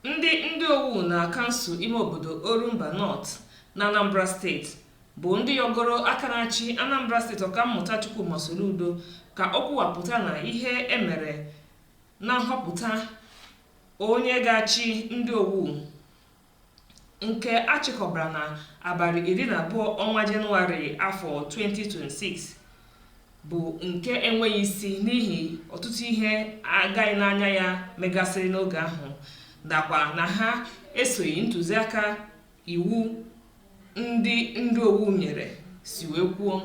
Ndị Ndiowu na kansụl ime obodo Orumba Nọt na Anambra steeti bụ ndị yọgoro aka na-achị Anambra steeti Ọkammụta Chukwuma Soludo ka o kwuwapụta na ihe e mere na nhọpụta onye ga-achị Ndiowu nke a chịkọbara na abalị iri na abụọ ọnwa Jenụwarị afọ 2026 bụ nke enweghị isi n'ihi ọtụtụ ihe agaghị n'anya ya megasịrị n'oge ahụ nakwa na ha esoghị ntụziaka iwu ndị Ndiowu nyere si wee kwuo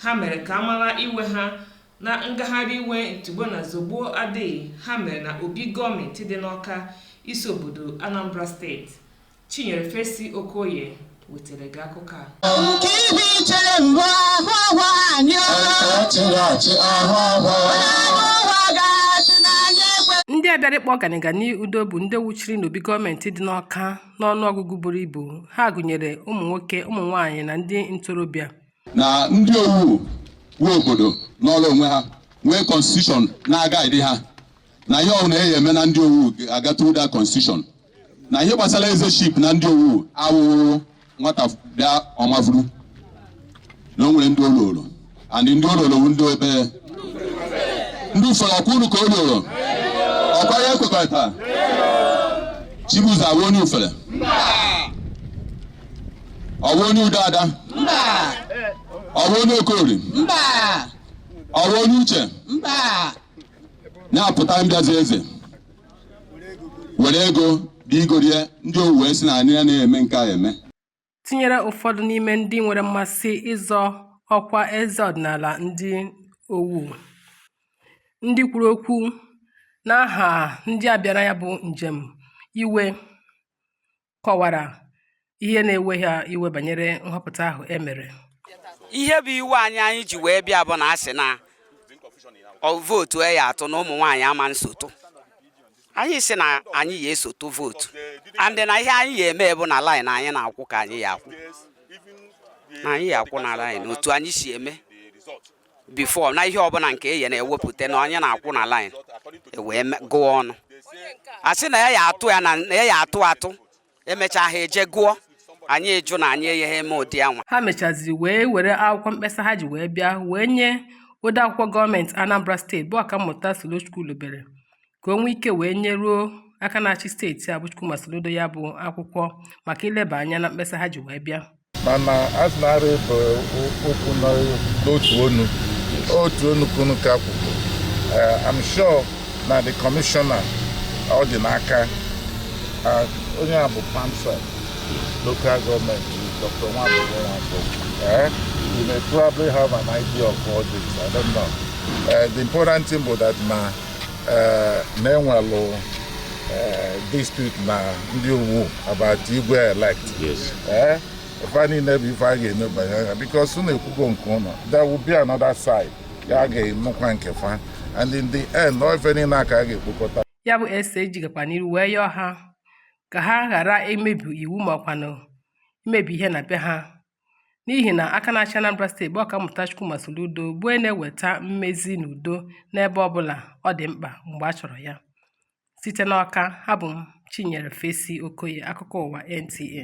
ha mere ka a mara iwe ha Na ngagharị iwe ntigbuo na zọgbuo adịghị ha mere na Obi gọọmentị dị n'Awka isi obodo Anambra steeti, Chinyere Fesi Okoye wetere gị akụkọ a. Nke ihu ichere mbụ ahụ ọhụ anyị o. Nke achịrị achị ahụ ọhụ. Ahụ ụwa ga-achị na anyị ekwe. Ndị a bịara ịkpọ ọganiga n'udo bụ ndị wuchiri n'obi gọọmentị dị n'Awka n'ọnụọgụgụ buru ibu, ha gụnyere ụmụ nwoke, ụmụ nwaanyị na ndị ntorobịa. na Ndiowu wụ obodo nọrọ onwe ha nwee constitution na-aguide ha na ihe ọbụla e yi eme na Ndiowu aga through that constitution na ihe gbasara ezeship na Ndiowu awụhụ nwata bịa ọ mavuru na o nwere ndị o luuru and ndị o luuru bụ ndị ebe ndị Ufere ọ kwa unu ka o luuru ọ kwa ya e kwekọrịta Chibuzo a bụ onye Ufere ọ wụ onye Udoada mba ọ wụ onye Okori mba ọ wụ onye Uche mba na-apụta mbịazi eze were ego dị igorie Ndiowu wee sị na anyị ya na-eme nke a eme tinyere ụfọdụ n'ime ndị nwere mmasị ịzọ ọkwa eze ọdịnala Ndiowu ndị kwuru okwu n'aha ndị a bịara ya bụ njem iwe kọwara ihe na-ewe ha iwe banyere nhọpụta ahụ e mere ihe bụ iwe anyị anyị ji wee bịa bụ na a sị na vootu e ya atụ na ụmụ nwaanyị ama nso tụ anyị sị na anyị ya eso tụ vootu and na ihe anyị ya eme bụ na laịn anyị na-akwụ ka anyị ya akwụ na anyị ya akwụ na laịn otu anyị si eme before na ihe ọbụla nke e ya na-ewepụta na anyị na-akwụ na line e wee gụọ ọnụ a sị na ya ya atụ ya na ya ya atụ atụ e mechaa ha eje gụọ anyị jụ na anyị agaghị eme ụdị anwa ha mechaziri wee were akwụkwọ mkpesa ha ji wee bịa wee nye odeakwụkwọ gọọmenti Anambra steeti bụ ọkammụta Solo Chukwulobelu ka o nwee ike wee nyeruo aka na-achị steeti a bụ Chukwuma Soludo ya bụ akwụkwọ maka ileba anya na mkpesa ha ji wee bịa mana azụ na-arụ bụ okwu n'otu onu otu onu kunu ka kwuru Eh, I'm sure na the commissioner ọ dị n'aka Ah, onye a bụ perm sec local government Dr. Nwabufo Nwankwo Eh, you may probably have an idea of all this I don't know Eh, the important thing bụ that na na e nwelụ dispute na Ndiowu about igwe elect ife niine bụ ife a ga-enebanye anya because unu ekwugo nke unu there will be another side a ga-anụkwa nke fa and in the end ọ ife niine ka a ga-ekpokọta ya bụ SSG gakwa n'iru wee yọọ ha ka ha ghara imebi iwu makwanụ imebi ihe na be ha n'ihi na aka na-achị Anambra steeti bụ Ọkammụta Chukwuma Soludo bụ onye na-eweta mmezi na udo n'ebe ọbụla ọ dị mkpa mgbe a chọrọ ya site n'Ọka abụ m Chinyere Fesi Okoye akụkọ ụwa NTA